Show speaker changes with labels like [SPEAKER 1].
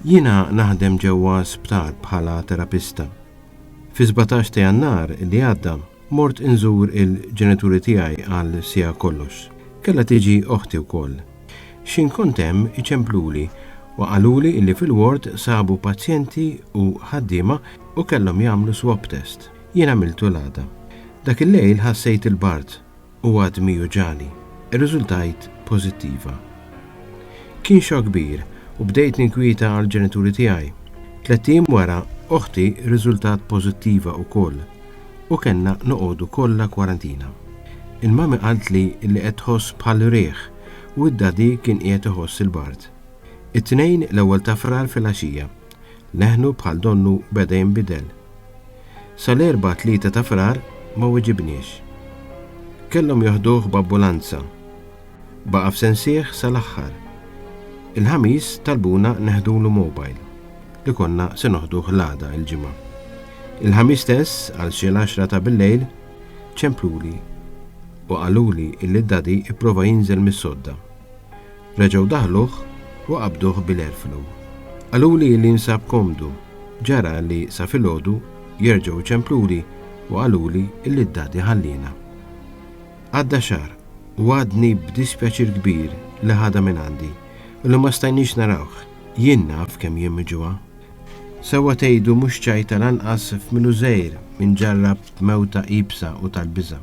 [SPEAKER 1] Jiena naħdem ġewwa sptar bħala terapista. Fi 17 ta' jannar li għadda mort inżur il-ġenituri tiegħi għal sija kollox. Kella tiġi oħti wkoll. Xin kontem iċempluli u qaluli illi fil-ward sabu pazjenti u ħaddiema u kellhom jagħmlu swab test. Jien għamiltu l-għada. Dak il-lejl ħassejt il-bard u għadmi juġagħli. Irriżultajt pożittiva. Kien xokk kbir u bdejt ninkwieta għall-ġenituri tiegħi. Tlett ijiem wara, oħti rriżultat pożittiva wkoll u kellna noqogħdu kollha kwarantina. Il-mami qaltli li qed tħoss bħal riħ u d-dadi kien qiegħed iħoss il-bard. It-Tnejn, l-ewwel ta' Frar filgħaxija, leħnu bħal donnu beda jinbidel. Sal-Erbgħa 3 ta' Frar ma weġibniex. Kellhom joħduh b'ambulanza. Baqa' f'Sensieħ sal-aħħar. Il-Ħamis talbuna neħdulu mobile li konna se noħduh l-għada, il-Ġimgħa. Il-Ħamis stess għal xi l-għaxra ta' billejl ċempluli u qaluli illi d-Daddy pprova jinżel mis-sodda. Reġgħu daħluh u qabduh bil-erflu. Qaluli li jinsab komdu. Ġara li sa filgħodu jerġgħu ċempluli u qaluli li d-Dadi ħalliena. Għadda xahar u għadni b'dispjaċir kbir li ħadha minn għandi u li ma stajniex narawh. Jien naf kemm jien miġugħa. Sewwa tgħidu mhux ċajta lanqas f'minu żgħir minn ġarrab mewta iebsa u tal-biża'.